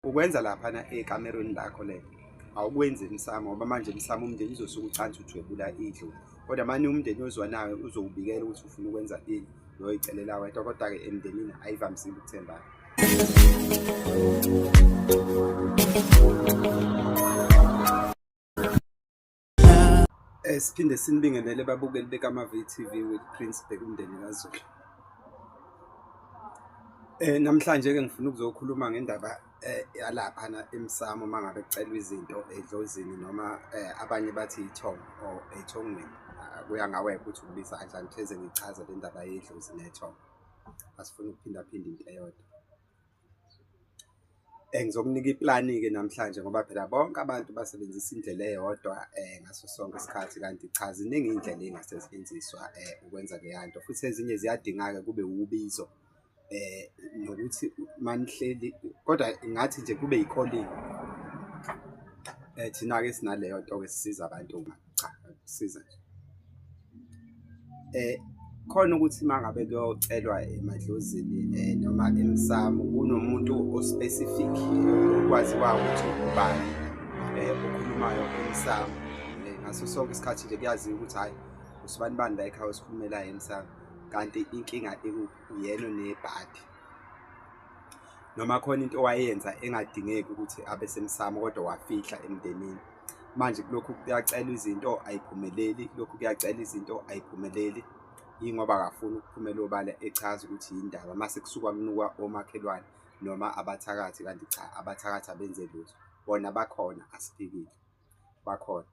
ukwenza laphana ekamerweni lakho le awukwenzi emsamo ngoba manje emsamo umndeni uzosuke ucansi uthwebula idlu kodwa mani umndeni ozwa nawe uzowubikela ukuthi ufuna ukwenza ini loyo icelela wedwa kodwa-ke emndenini ayivamisile ukuthembana Eh, siphinde sinibingelele babukeli bekamavi TV with Prince Bhekumndeni kaZulu. Eh namhlanje ke ngifuna ukuzokhuluma ngendaba eh, yalapha na emsamo mangabe kucelwa izinto edlozini noma eh, abanye bathi ithongo or ethongweni. Ah, kuya ngawe ukuthi ubiza kanjani pheze ngichaze le ndaba yedlozi nethongo. Asifuni ukuphinda phinda into eyodwa. Ngizokunika iplani-ke namhlanje ngoba phela bonke abantu basebenzisa indlela eyodwa ngaso sonke isikhathi kanti cha ziningi iy'ndlela ey'ngasetshenziswa ukwenza leya nto futhi ezinye ziyadingeka-ke kube wubizo nokuthi uma nihleli kodwa ngathi nje kube yi-calling thina-ke sinaleyo nto-ke esisiza abantu-ke. cha siza nje eh khona ukuthi mangabe kuyocelwa emadlozini eh noma emsamo kunomuntu ospecific okwazi kwawo ukuthi ubani eh okhulumayo emsamo eh, ngaso sonke isikhathi nje kuyaziwa ukuthi hayi usibani bani la ekhaya osikhulumela emsamo kanti inkinga ikuphi uyena nebhadi noma khona into owayenza engadingeki ukuthi abe semsamo kodwa wafihla emndenini manje kulokhu kuyacela izinto ayiphumeleli kulokhu kuyacela izinto ayiphumeleli yingoba akafuni ukuphumela obala echaza ukuthi yindaba mase kusuka kunukwa omakhelwane noma abathakathi kanti cha abathakathi abenze lutho bona bakhona asiphikile bakhona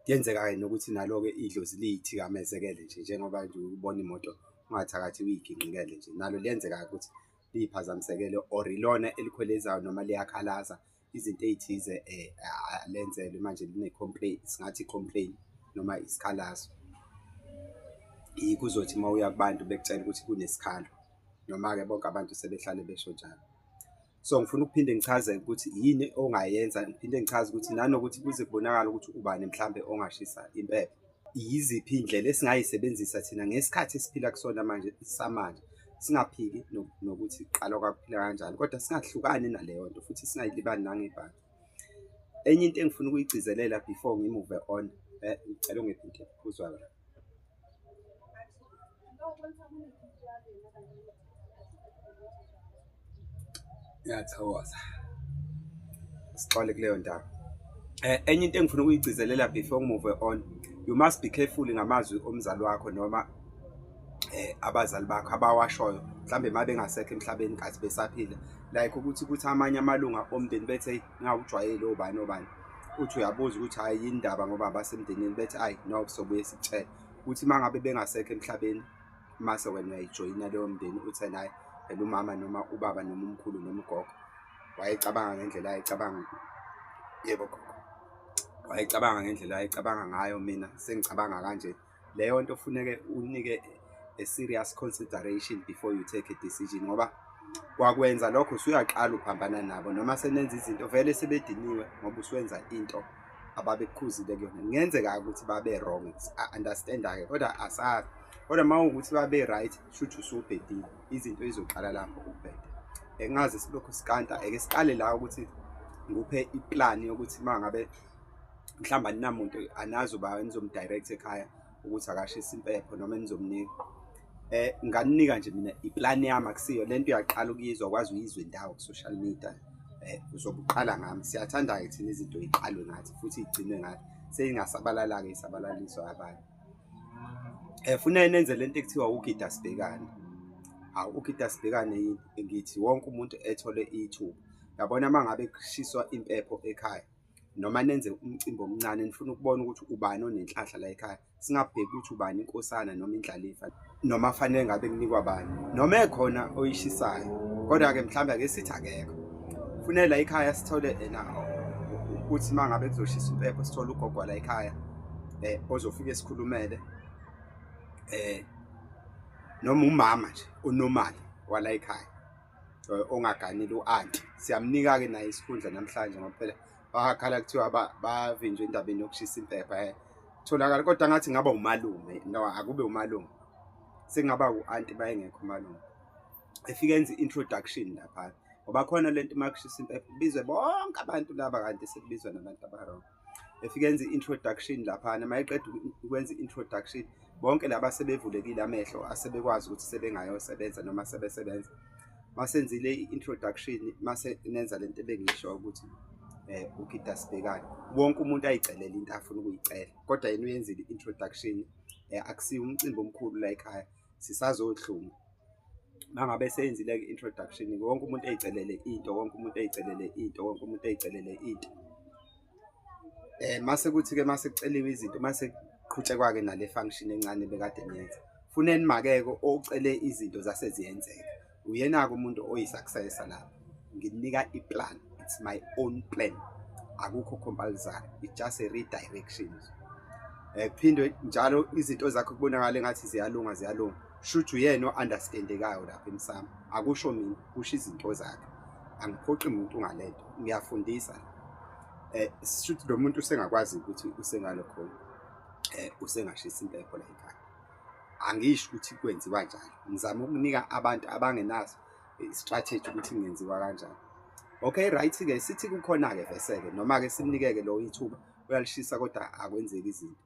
kuyenzeka-ke nokuthi nalo-ke idlozi liyithikamezekele nje njengoba nje ubona imoto ungathakathi uyigingqikele nje nalo liyenzeka-ke ukuthi liyiphazamisekele or ilona elikhwelezayo noma liyakhalaza izinto ey'thize um lenzelwe manje line-complain singathi i-complain noma isikhalazo kuzothi uma uya kubantu bekutshela ukuthi kunesikhalo noma-ke bonke abantu sebehlale besho njalo so ngifuna ukuphinde ngichaze ukuthi yini ongayenza ngiphinde ngichaze ukuthi nanokuthi kuze kubonakale ukuthi ubani mhlawumbe ongashisa impepho yiziphi iy'ndlela esingayisebenzisa thina ngesikhathi esiphila kusona manje samanje singaphiki nokuthi qala kwakuphila kanjani kodwa singahlukani naleyo nto futhi singayilibani nangebhange enye into engifuna ukuyigcizelela before ngimuve on eh, ngicela ungiphi into ephuzwa la ngiyathokoza sixole kuleyo ndawo eh enye into engifuna ukuyigcizelela before ngimuve on you must be careful ngamazwi omzali wakho noma eh abazali bakho abawashoyo mhlambe mabe ngasekho emhlabeni kathi besaphila like ukuthi kuthi amanye amalunga omndeni bethe ngawujwayele obani obani uthi uyabuza ukuthi hayi indaba ngoba abasemndenini bethi ayi no sobuye sicela uthi uma ngabe bengasekho emhlabeni mase wena uyayijoyina leyo mndeni uthe naye phela umama noma ubaba noma umkhulu noma ugogo wayecabanga ngendlela ayecabanga yebo gogo wayecabanga ngendlela ayecabanga ngayo mina sengicabanga kanje leyo nto funeke unike a serious consideration before you take a decision ngoba kwakwenza lokho usuyaqala uphambana nabo noma senenza izinto vele sebediniwe ngoba usuwenza into ababekukhuzile kuyona kungenzeka-ke ukuthi babe-wrong understanda-ke kodwa asazi kodwa uma ukuthi babe-right shuthi usubhedile izinto ezizoqala lapho ukubheda engazi silokhu sikanta eke siqale la ukuthi nguphe iplani yokuthi uma ngabe mhlawumbe aninamuntu anazi uba nizomdirect ekhaya ukuthi akashise impepho noma enizomnika eh nganinika nje mina iplan yami akusiyo lento uyaqala ukuyizwa kwazi uyizwe ndawo ku social media eh uzobuqala ngami siyathanda ke thina izinto iqalwe ngathi futhi igcinwe ngathi seyingasabalala ke isabalaliswa abanye eh funa nenze lento ekuthiwa ugida sibhekane hawu ugida sibhekane ngithi wonke umuntu ethole ithuba yabona mangabe kushiswa impepho ekhaya noma nenze umcimbi omncane nifuna ukubona ukuthi ubani onenhlahla la ekhaya singabheki ukuthi ubani inkosana noma indlalifa noma fanele ngabe kunikwa bani noma ekhona oyishisayo kodwa-ke mhlawumbe ake sithi akekho funele la ekhaya sithole ena ukuthi uma ngabe kuzoshisa impepho sithole ugogwa la ekhaya eh ozofike sikhulumele eh noma umama nje onomali wala ekhaya eh, ongaganile u-anti siyamnika-ke naye isikhundla namhlanje ngoba phela bakhala kuthiwa bavinjwe endabeni yokushisa impepha um eh. tholakala kodwa ngathi ngaba umalume no akube umalume sekungaba u-anti bayengekho umalume efike enza i-introduction lapha ngoba khona le nto uma kushisa impepha kubizwe bonke abantu laba kanti sekubizwa nabantu abarong efike enze introduction laphana mayeqeda ukwenza introduction bonke laba sebevulekile amehlo asebekwazi ukuthi sebengayosebenza noma sebesebenza masenzile i-introduction mase nenza lento ebengisho ukuthi eh ugida sibhekane wonke umuntu ayicelela into afuna ukuyicela kodwa yena uyenzile i-introduction eh akusiyo umcimbi omkhulu la ekhaya sisazohlunga mangabe seyenzile ke introduction wonke umuntu eyicelele into wonke umuntu eyicelele into wonke umuntu eyicelele into eh mase kuthi ke mase kuceliwe izinto mase kuqhutshekwa ke nale function encane bekade niyenza funeni makeke ocele izinto zase ziyenzeka uyena ke umuntu oyisuccessor la nginika iplan it's my own plan akukho compulsory it's just a redirection eh phindwe njalo izinto zakho kubonakala engathi ziyalunga ziyalunga shuthu yena o-understandekayo lapha emsamo akusho mina kusho izinto zakhe angiphoqi muntu ngalento ngiyafundisa eh shuthi lo muntu usengakwazi ukuthi usengalo khona eh usengashisa impepho la ekhaya angisho ukuthi kwenziwa njalo ngizama ukunika abantu abangenaso eh, strategy ukuthi ngenziwa kanjani okay right ke sithi kukhona ke vese ke noma ke simnikeke lo ithuba uyalishisa kodwa akwenzeki izinto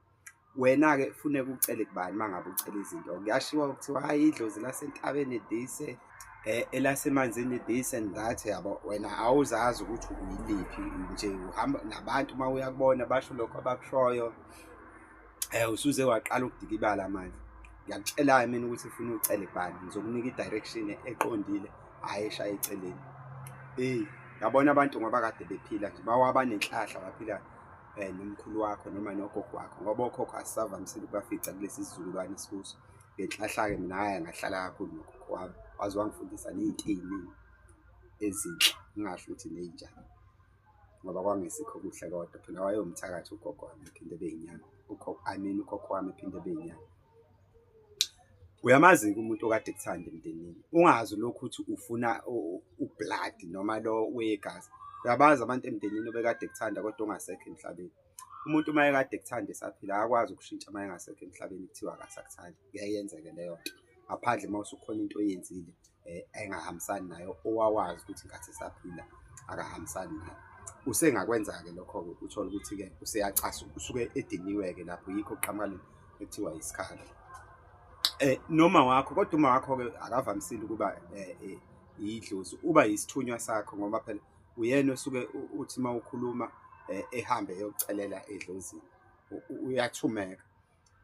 Wena-ke funeka ucele kubani uma ngabe ucela izinto kuyashiwa kuthiwa hhayi idlozi lasentabeni this um eh, elasemanzini this and that yabo wena awuzazi ukuthi uyiliphi nje uhamba nabantu uma uyakubona basho lokho abakushoyo um usuze waqala ukudikibala manje ngiyakutshela-ke mina ukuthi ufuna ucele kubani ngizokunika i-direction eqondile hhayi eshaya eceleni eyi ngabona abantu ngoba kade bephila nje bawabanenhlahla baphila eh, nomkhulu wakho noma nogogo wakho ngoba okhokho asisavamisile ukubafica kulesi sizukulwane esikuso ngenhlahla-ke mina haya ngahlala kakhulu nogogo wami waze wangifundisa ney'nto ey'ningi ezinhle ngingasho ukuthi ney'njani ngoba kwangesikho kuhle kodwa phela wayewumthakathi ugogo wami ephinde beyinyanga i mean ukhokho wami ephinde beyinyanga uyamazi-ke umuntu okade kuthanda emndenini ungazi lokhu ukuthi ufuna ublood noma lo wegazi uyabazi abantu emndenini obekade kuthanda kodwa ongasekho emhlabeni umuntu uma ekade kuthanda esaphila akakwazi ukushintsha uma engasekho emhlabeni kuthiwa akasakuthandi kuyayenzeke leyo nto ngaphandle uma usukhona into oyenzile eh, engahambisani nayo owawazi ukuthi ngathi saphila akahambisani nayo usengakwenza-ke lokho-ke uthole ukuthi-ke useyacasa usuke ediniwe-ke lapho yikho kuqhamuka ekuthiwa isikhala eh noma wakho kodwa uma wakho ke akavamisile ukuba eh, eh, yidlozi uba yisithunywa sakho ngoba phela uyena osuke uthi uma ukhuluma eh, ehambe eyokucelela edlozini uyathumeka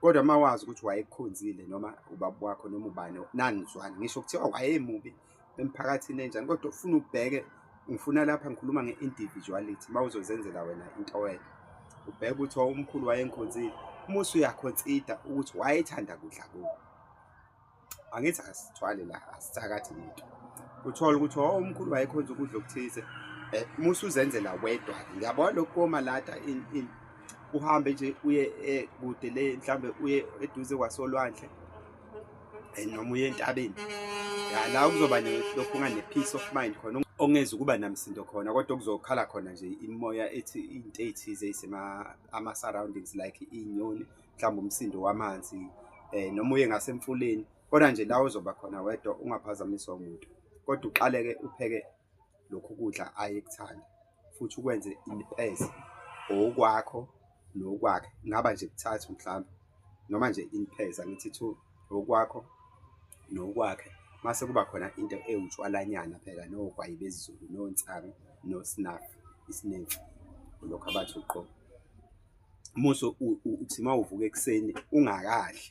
Kodwa uma wazi ukuthi wayekukhonzile noma ubaba wakho noma ubani nanizwani ngisho kuthiwa wayemubi emphakathini enjani kodwa ufuna ubheke ngifuna lapha ngikhuluma nge-individuality uma uzozenzela wena into wena ubheke ukuthi umkhulu wayengikhonzile uma usuyakhonsida ukuthi wayethanda kudla kubo angithi asithwale la asithakathi muntu uthola ukuthi oh, umkhulu wayekhonza ukudla okuthize eh, musa uzenzela wedwa ngiyabona lokhu komalada uhambe nje uye eh, kude le mhlawumbe uye eduze kwasolwandle eh, noma uye entabeni ya la kuzoba lokhu unganepeace of mind khona ongeza ukuba namsindo khona kodwa okuzokhala khona nje imoya ethi into ethize isema ama surroundings like inyoni mhlawumbe umsindo wamanzi eh noma uye ngasemfuleni kodwa nje la uzoba khona wedwa ungaphazamiswa umuntu kodwa uqaleke upheke lokhu kudla ayekuthanda futhi ukwenze impese okwakho nokwakhe ngaba nje kuthathu mhlawumbe noma nje impesa ngithi two okwakho nokwakhe mase kuba khona into ewutshwalanyana phela nogwayi bezulu nonsangu nosnafu isinefu lokho abathi uqobo muso uthi uma uvuka ekuseni ungakadli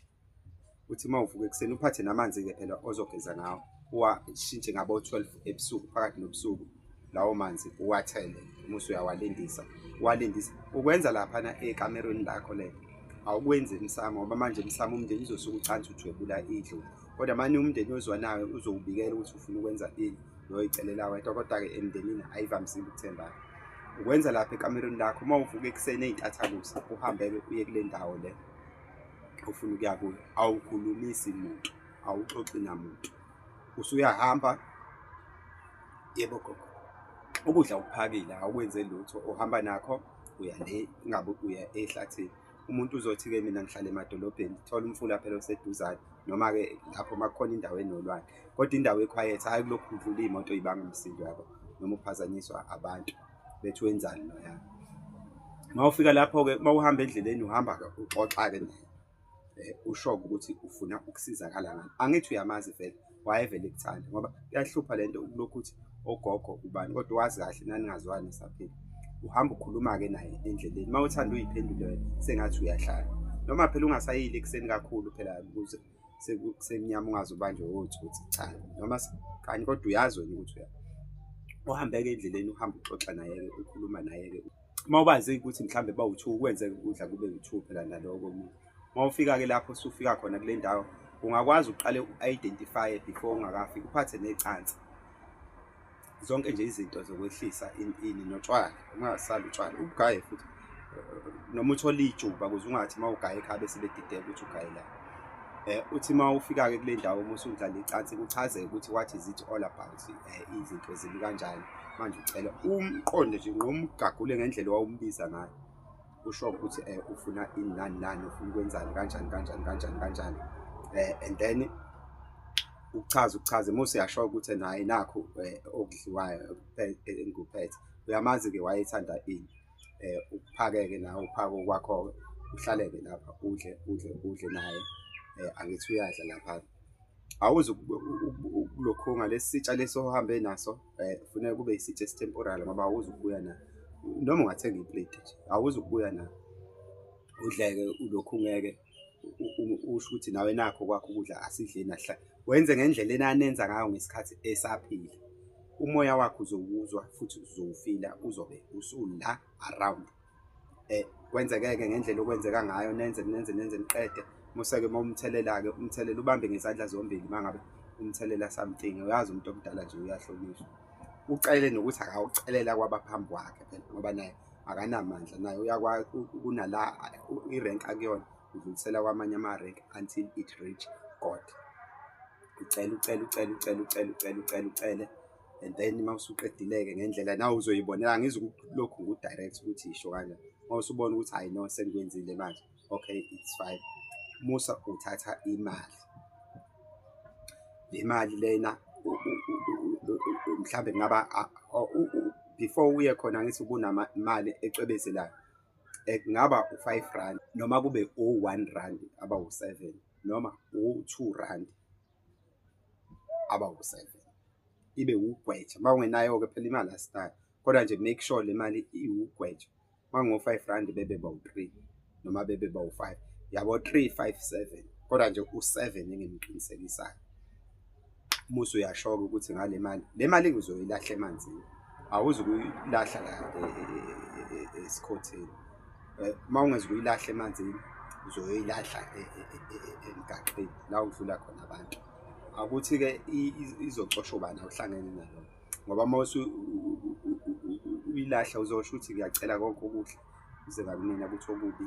uthi uma uvuka ekuseni uphathe namanzi-ke phela ozogeza ngawo uwashintshe ngabo-twelve ebusuku phakathi nobusuku lawo manzi uwathele muso uyawalindisa uwalindisa ukwenza laphana ekamerweni lakho le awukwenzi emsamo ngoba manje emsamo umndeni uzosuke ucansi ujwebula idlovu kodwa mani umndeni ozwanayo uzowubikela ukuthi ufuna ukwenza ini loyicelela wedwa kodwa-ke emndenini ayivamisile ukuthembana ukwenza lapha ekamerweni lakho uma uvuka ekuseni ey'ntathakusa uhambeke uye kule ndawo le ofuna ukuya kuyo awukhulumisi muntu awuxoxi namuntu usuyahamba yebo gogo ukudla ukuphakile awukwenze lutho uhamba nakho uya le ngabe uya ehlathini umuntu uzothi-ke mina ngihlala emadolobheni thola umfula phela oseduzane noma-ke lapho uma kukhona indawo enolwane kodwa indawo ekhwayethi hhayi kulokhu kudlula iy'moto ibanga umsindo yabo noma uphazanyiswa abantu bethi wenzani noyabo uma ufika lapho-ke uma uhamba endleleni uhamba uxoxa-ke naye um eh, usho-ke ukuthi ufuna ukusizakala ngani angithi uyamazi vele wayevele kuthanda ngoba kuyahlupha le nto ukulokhu ukuthi ogogo ubani kodwa wazi kahle naningazwani esaphila uhamba ukhuluma-ke naye endleleni uma uthanda uyiphendule sengathi uyahlala noma phela ungasayile ekuseni kakhulu phela ukuze sekusenyama ungaze ubanjwe wothi ukuthi cha noma kanye kodwa uyazi wena ukuthi uya uhambeke endleleni uhamba uxoxa naye-ke ukhuluma naye-ke uma ubazi ukuthi mhlawumbe bawu-two kwenzeka ukudla kube wu-two phela naloko omunye uma ufika-ke lapho usufika khona kule ndawo ungakwazi uqale u-identifye before ungakafiki uphathe necansi zonke nje izinto zokwehlisa ini notshwala ungasali utshwala ubugaye futhi noma uthole ijuba ukuze ungathi uma ugaye ekhaya bese bedideka ukuthi ugaye la um uthi uma ufika-ke kule ndawo uma usudlala icansi kuchazeke ukuthi what is it all about um izinto zimi kanjani manje ucela umqonde nje nqoma ugagule ngendlela owawumbiza ngayo usho ukuthi um ufuna ini nani nani ufuna ukwenzani kanjani kanjani kanjani kanjani um and then ukuchaza ukuchaza uma useyasho ukuthi naye nakho um okudliwayo engikuphethe uyamazi-ke wayethanda ini um ukuphakeke nawe uphake okwakho-ke uhlaleke lapha udle udle udle naye um angithi uyadla lapha awuze ukulokhunga lesi sitsha lesi ohambe naso eh, funeka kube isithi esitemporary ngoba awuzi ukubuya na noma ungathenga iplate nje awuzi ukubuya na udleke ulokhu ngeke usho ukuthi nawe nakho kwakho ukudla asidleni ahla wenze ngendlela enanenza ngayo ngesikhathi esaphila umoya wakho uzowuzwa futhi uzowufila uzobe usula around eh kwenzekeke ngendlela okwenzeka ngayo nenze nenze nenze niqede museke momthelela ke umthelela ubambe ngezandla zombili mangabe umthelela something uyazi umuntu omdala nje uyahlonishwa ucele nokuthi akawucelela kwabaphambi kwakhe phela ngoba naye akanamandla naye uyakwazi kunala irank akuyona udlulisela kwamanye ama-rank until it reach god ucele ucele ucele ucele ucele ucele ucele ucele and then uma usuqedileke ngendlela nawe uzoyibonela angizukulokhu ngu-direct ukuthi yisho kanjani uma usubona ukuthi hayi no sengikwenzile manje okay it's fine musa uthatha imali le mali lena mhlawumbe kungaba before uye khona ngithi kunamali ecwebezelayo eh, kungaba u-five rand noma kube u-one rand aba u-seven noma u-two rand abawu-seven ibe wugwetsha uma ungenayo-ke phela imali asinayo kodwa nje make sure le mali iwugwetsha uma ngingo-five rand bebe bawu-three noma bebe bawu-five yabo three five seven kodwa nje u-seven engimqinisekisayo umusi uyashoka ukuthi ngale mali le mali ngizoyilahle emanzini awuzi ukuyilahla la e, e, e, esikhotheni eh, uma ungeze uyilahle emanzini uzoyilahla e, e, e, emgaqeni la udlula khona abantu akuthi-ke izocosha ubani awuhlangene nalo ngoba uma uyilahla uzosho ukuthi ngiyacela konke okuhle uze kakunina ukuthi okubi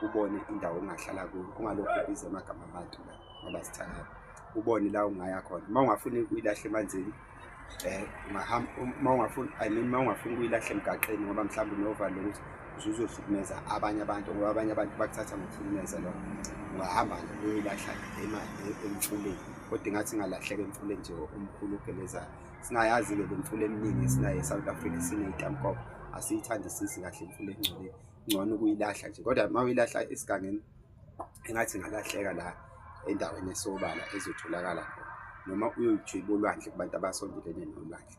ubone indawo ongahlala kuyo ungalokhu ubiza amagama abantu ngoba sithangana ubone la ungaya khona uma ungafuni uyilahle emanzini eh ungahamba uma ungafuni i mean uma ungafuni kuyilahle emgaqeni ngoba mhlawumbe unova lokuthi uzuzohlukumeza abanye abantu ngoba abanye abantu bakuthatha ngokuhlukumeza lo ungahamba nje uyoyilahla emfuleni kodwa ingathi ingalahleka emfuleni nje omkhulu ogelezayo singayazi-ke le mfula eminingi esinayo e-south africa sineyitampoko asiyithandisisi kahle imfula engcole ngcono ukuyilahla nje kodwa uma uyilahla esigangeni engathi ngalahleka la endaweni esobala ezotholakala khona noma uyoyijwiba olwandle kubantu abasondelene nolwandle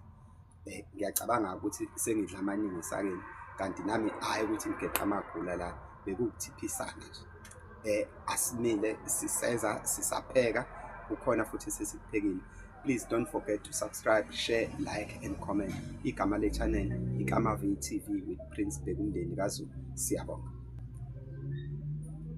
um ngiyacabanga ukuthi sengidla amaningi esakeni kanti nami hhayi ukuthi ngigeqa amagula la bekukuthiphisana nje um asimile siseza sisapheka kukhona futhi sesikuphekile please don't forget to subscribe share like and comment igama le-channel ikamav tv with prince bekumndeni kazulu siyabonga